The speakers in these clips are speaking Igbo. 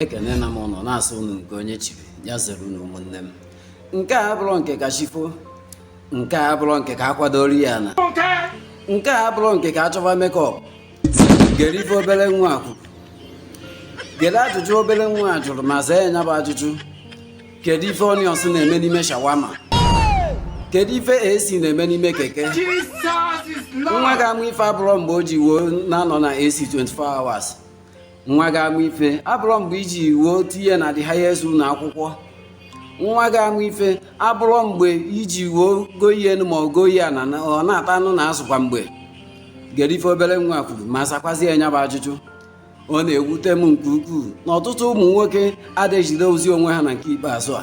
ekenena m unu na-asị unu nke onye chiri ya zere unu ụmụnne m nke a abụrọ nke ka chi fo nke a abụrọ nke ka a kwadoro ya na nke a abụrọ nke ka a chọba mekọp gere ife obere nwa a kwuru gere ajụjụ obere nwa a jụrụ ma saa nya bụ ajụjụ kedu ife onions na-eme n'ime shawama kedu ife ac na-eme n'ime keke nwa ga-ama ife abụrọ mgbe o ji wee na-anọ na ac 24 hours nwa ga-ama ife abụrọ mgbe i ji wee tinye na the highest ụlọ akwụkwọ nwa ga-ama ife abụrọ mgbe i ji wee goyie enu ma ọ goyie ana ọ na-ata anụ na azụ kwa mgbe gere ife obere nwa kwuru ma sakwazi ya nya bụ ajụjụ ọ na-ewute m nke ukwuu na ọtụtụ ụmụ nwoke adị ejidezi onwe ha na nke ikpeazụ a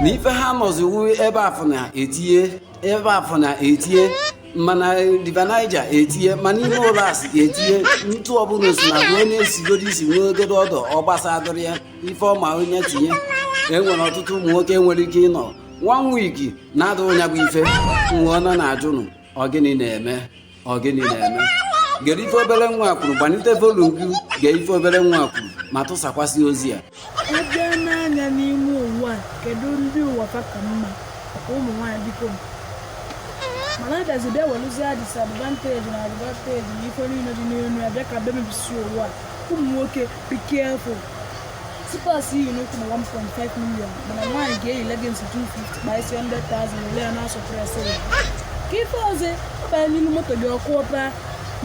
na ife ha nọzi wu ebe a fụ na-etinye ma na river niger etinye ma n'ime ụlọ nsị etinye ntụ ọ bụrụ sị na ruo onye esigodo isi nwegodo odour ọ gbasadụrọ ya ife ọ ma wụ nya tinye e nwere ọtụtụ ụmụ nwoke nwere ike ịnọ one week na-adụ nya bụ ife nwa ọ nọ na-ajụnụ ọ gịnị na-eme ọ gịnị na-eme gere ife obere nwa kwuru gbanite volum gị gee ife obere nwa kwuru ma tụsakwasị ozi ya a bịa n'anya n'ime ụwa kedu ndị ụwa ka mma ụmụ nwaanyị biko mana a gazi bịa welụzie disadvantage na advantage na ife niile dị n'elu ya bịa ka bịa mebisi ụwa ụmụ nwoke be careful slippers i yi n'ụkwụ bụ 1.5 million mana nwaanyị ga-eyi leggings 250 kpaa isi 100,000 ole ya na-asụ presịrị ka ife ọzọ ọ banye n'iru moto gị ọkụ ọba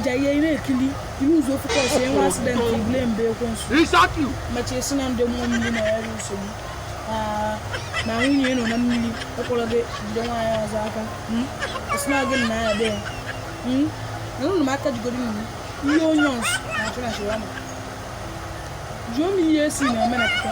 jaye na-ekili I luuzuo focus e nwe asidenti i blemụbe ekwensu. Exactly. Machi a sị na ndị mmụọ mmiri na-enye nsogbu. Ah, na nwunye nọ na mmiri ọkpọrọ gị jide nwaanyị ọzọ aka. Hmm? A sị na gị na ya dị ya. Hmm? Na ụlọ m aka jigoro mmiri. Ihe onions na-achọ na shawama. Jụọ m ihe AC na-eme na pụta.